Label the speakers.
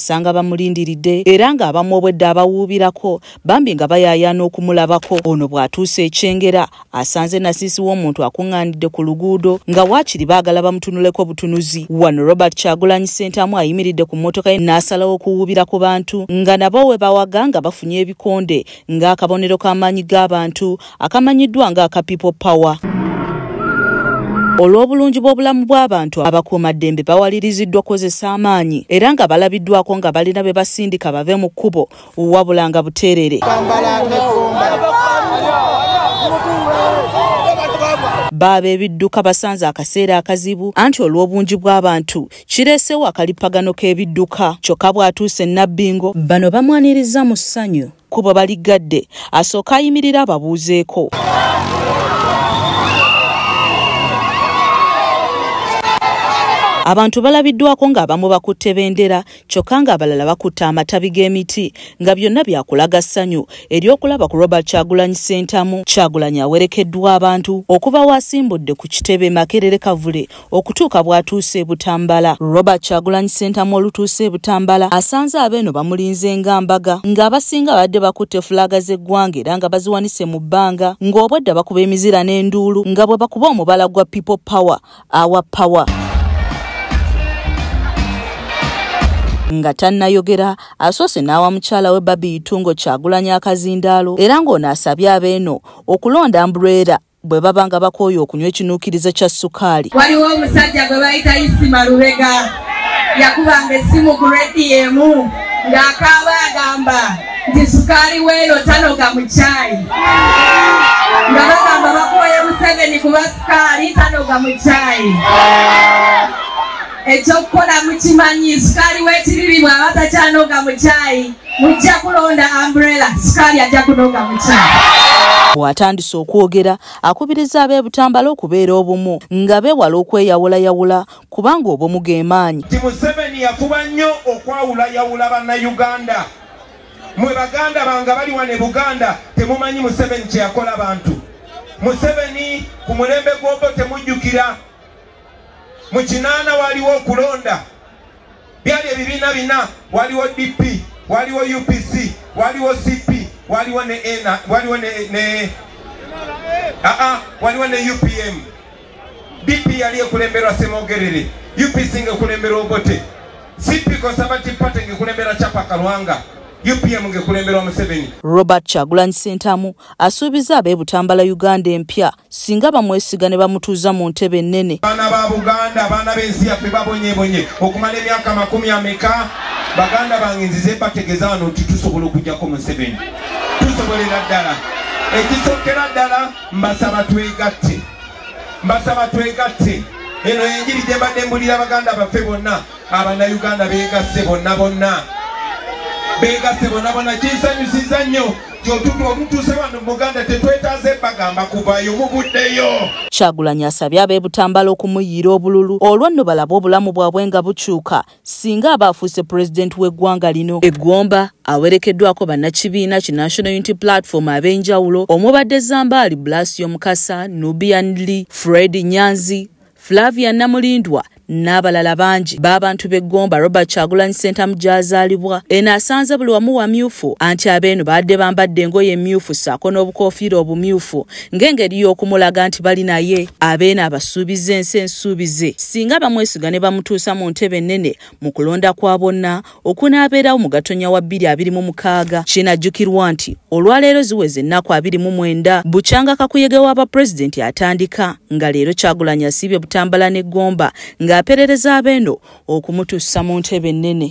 Speaker 1: okusanga bamulindiridde era ng'abamu obwedde abawuubirako bambi nga bayaayaana okumulabako ono bw'atuuse ekyengera asanze nasiisi w'omuntu akuŋŋaanidde ku luguudo nga waakiri baagala bamutunuleko butunuzi wano robert kyagulanyi ssentamu ayimiridde ku mmotoka ye n'asalawo okuwuubira ku bantu nga nabo we bawaga nga bafunye ebikonde ng'akabonero k'amaanyi g'abantu akamanyiddwa nga aka people power olw'obulungi bw'obulamu bw'abantu abakuumaddembe bawaliriziddwa okukozesa amaanyi era nga balabiddwako nga balina be basindika bave mu kkubo wabula nga buteerere baaba ebidduka basanze akaseera akazibu anti olw'obungi bw'abantu kireesewo akalippagano k'ebidduka kyokka bw'atuuse nabbingo bano bamwanirizza mu ssanyu kkubo baliggadde asooka ayimirira ababuuzeeko abantu balabiddwako ng'abamu bakutte bendera kyokka ng'abalala bakutte amatabi g'emiti nga byonna byakulaga ssanyu ery'okulaba ku robert kyagulanyi ssentamu kyagulanyi awerekeddwa abantu okuva waasimbudde ku kitebe makerere kavule okutuuka bw'atuuse e Butambala. Robert Kyagulanyi Ssentamu olutuuse e Butambala asanze abeeno bamulinze nga mbaga ng'abasinga badde bakutte fulaaga z'eggwanga era nga baziwanise mu bbanga ng'obwedda bakuba emizira n'enduulu nga bwe bakuba omubala gwa People Power awa Power. nga tannayogera asoose n'awa mukyala we babi itungo kyagulanya akazindaalo era ng'ono asabye abeeno okulonda mbulwera bwe baba nga bakooye okunywa ekinuukiriza kya sukaali waliwo omusajja gwe
Speaker 2: bayita isima lubega yakubanga essimu ku rediyo emu ng'akaaba agamba nti sukaali weeno tanoga mu caayi nga bagamba bakooye museveni kuba sukaali tanoga mu caayi ekyokukola mukimanyi sukaali wekiriri bwaba takyanoga mukyayi mujja kulonda umbrella sukaali ajja kunoga mukyayi bwatandise
Speaker 1: okwogera akubiriza ab'e butambala okubeera obumu nga bewala okweyawulayawula kubanga obumu gemaanyi ti museveni yafuba
Speaker 3: nnyo okwawulayawula bannayuganda mwe baganda bange bali wano e buganda temumanyi museveni kyeyakola bantu museveni ku mulembe gwobo temujjukira mu kinaana waaliwo okulonda byali ebibiina bina waliwo dp waliwo upc waliwo cp waliwo ne ena waliwo ne ne aa waliwo ne upm dp yali ekulemberwa semogerere upc ngaekulemberwa obote cp conservative party ngaekulemberwa chapa kalwanga upm ngaekulemberwa museveni robert kyagulanyi
Speaker 1: sentamu asuubiza ab'ebutambala uganda empya singa bamwesiga ne bamutuuza mu ntebe ennene baana ba buganda
Speaker 3: abaana b'ensi yaffe babonyebonye okumala emyaka amakumi ameka baganda bange nzize bategeza wano nti tusobola okujjako museveni tusobolera ddala ekisokera ddala mbasaba twegatte mbasaba twegatte eno enjiri gye mbadde mbulira baganda baffe bonna abanayuganda begasse bonna bonna begasse bonna bonna kinsanyusiza nnyo kyotutu omutuuse wano muganda tetwetaaze bagamba kuvayo muvuddeyo kyagulanyi asabye
Speaker 1: abebutambala okumuyiira obululu olwo nno balabe obulamu bwabwe nga bukyuka singa aba afuuse pulezidenti w'eggwanga lino eggomba awerekeddwako bannakibiina ki national unity platform ab'enjawulo omubadde zambaali blasio mukasa nubian lee fred nyanzi Flavia Namulindwa n'abalala bangi b'abantu b'e Gomba Robert Kyagulanyi Ssentamu gy'azaalibwa eno asanze buli wamu wamyufu anti abeeno baadde bambadde engoye emmyufu ssaako n'obukoofiira obumyufu ng'engeri y'okumulaga nti bali naye abeeno abasuubiza ensi ensuubize singa bamwesiga ne bamutuusa mu ntebe ennene mu kulonda kwa bonna okunaabeerawo mu gatonya wa bbiri abiri mu mukaaga kinajjukirwa nti olwaleero ziweze ennaku abiri mu mwenda bukyanga kakuyege wa bapulezidenti atandika nga leero kyagulanyi asiibye butambala ne gomba ng'aperereza abeeno okumutuusa mu ntebe ennene